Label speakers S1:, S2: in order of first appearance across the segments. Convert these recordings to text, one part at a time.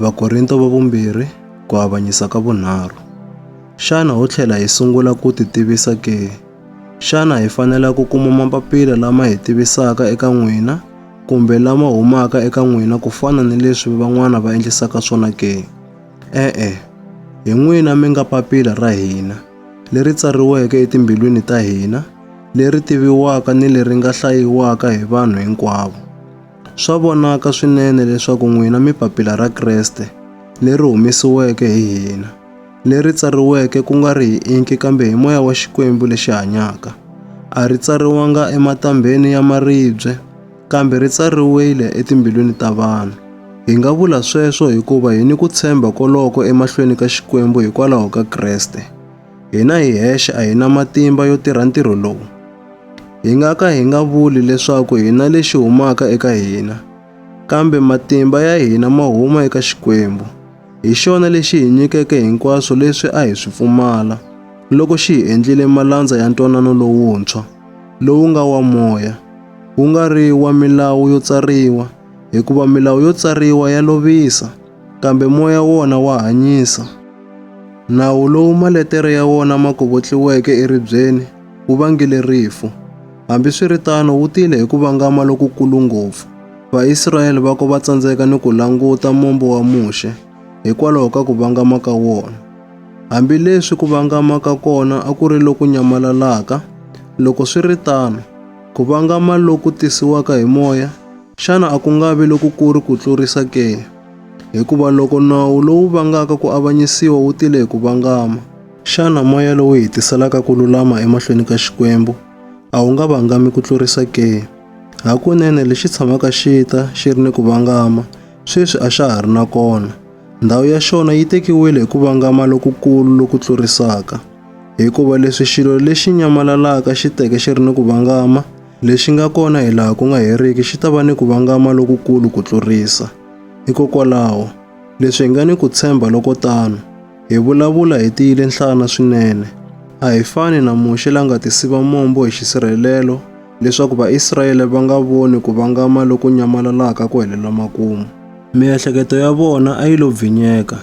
S1: Vakorinto va vumbirhi ku avanyisa ka vunharhu. Xana ho tlhela hi sungula ku ti tivisa ke? Xana hi fanela ku kuma mapapila lama hi tivisaka eka n'wina kumbe lama humaka eka n'wina ku fana ni leswi van'wana va endlisaka swona ke? E-e, hi n'wina mi nga papila ra hina, leri tsariweke etimbilwini ta hina, leri tiviwaka ni leri nga hlayiwaka hi vanhu hinkwavo. Swa vonaka swinene leswaku n'wina mi papila ra Kreste, leri humesiweke hi hina, leri tsariweke ku nga ri hi inki kambe hi moya wa Xikwembu lexi hanyaka. A ri tsariwanga ematambheni ya maribye, kambe ri tsariwile etimbilwini ta vanhu. Hi nga vula sweswo hikuva hi ni ku tshemba koloko emahlweni ka Xikwembu hikwalaho ka Kreste. Hina hi hexe a hi na matimba yo tirha ntirho lowu. Hi nga ka hi nga vuli leswaku hi na lexi humaka eka hina, kambe matimba ya hina ma huma eka Xikwembu. Hi xona lexi hi nyikeke hinkwaswo leswi a hi swi pfumala loko xi hi endlile malandza ya ntwanano lowuntshwa, lowu nga wa moya, wu nga ri wa milawu yo tsariwa, hikuva milawu yo tsariwa ya lovisa. kambe moya wona wa hanyisa. Nawu lowu maletere ya wona ma kovotliweke eribyeni wu vangile rifu. Hambiswiritano wu tile hi ku vangama lokukulu ngopfu. Vaisrayele va ko va tsandzeka ni ku languta mombo wa Muxe hikwalaho ka ku vangama ka wona. Hambileswi ku vangama ka kona a ku ri loku nyamalalaka, loko swi ri tano, ku vangama loku tisiwaka hi moya Xana a ku nga vi lokukulu ku tlurisa ke? Hikuva loko nawu lowu vangaka ku avanyisiwa wu tile hi ku vangama, xana moya lowu hetiselaka ku lulama emahlweni ka Xikwembu a wu nga vangami ku tlurisa ke? Hakunene lexi tshamaka xi ta xi ri ni ku vangama sweswi a xa ha ri na kona. Ndhawu ya xona yi tekiwile hi ku vangama lokukulu loku tlurisaka. Hikuva leswi xilo lexi nyamalalaka xi teke xi ri ni ku vangama, Lexi nga kona hi laha ku nga heriki xi ta va ni ku vangama lokukulu ku tlurisa. Hikokwalaho, leswi hi nga ni ku tshemba loko tano, hi vulavula hi tiyile nhlana swinene. A hi fani na Muxe la nga tisiva mombo hi xisirhelelo leswaku Vaisrayele va nga voni ku vangama loku nyamalalaka ku helela makumu. Miehleketo ya vona a yi lo bvinyeka,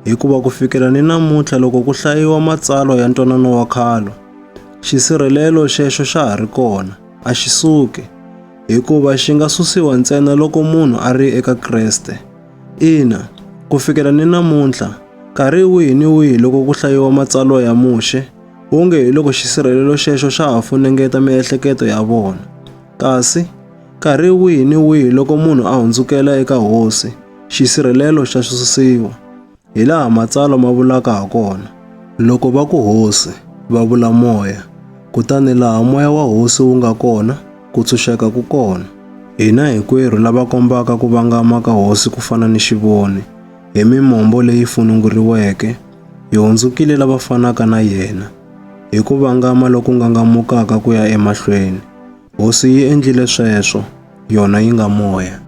S1: hikuva ku fikela ni namuntlha loko ku hlayiwa matsalwa ya ntwanano wa khalo, Xisirhelelo xexo xa ha ri kona, a xi suki, hikuva xi nga susiwa ntsena loko munhu a ri eka Kreste. Ina, ku fikela ni namuntlha, nkarhi wihi ni wihi loko ku hlayiwa matsalwa ya Muxe, wonge hi loko xisirhelelo xexo xa ha funengeta miehleketo ya vona. Kasi, nkarhi wihi ni wihi loko munhu a hundzukela eka Hosi, xisirhelelo xa susiwa. Hi laha matsalwa ma vulaka ha kona, loko va ku hosi, va vula moya, kutani laha moya wa hosi wu nga kona, ku tshunxeka ku kona. Hina hinkwerhu lava kombaka ku vangama ka hosi ku fana ni xivoni, hi mimombo leyi fununguriweke, hi hundzukile lava fanaka na yena. Hi ku vangama loku ngangamukaka ku ya emahlweni, hosi yi endlile sweswo, yona yi nga moya.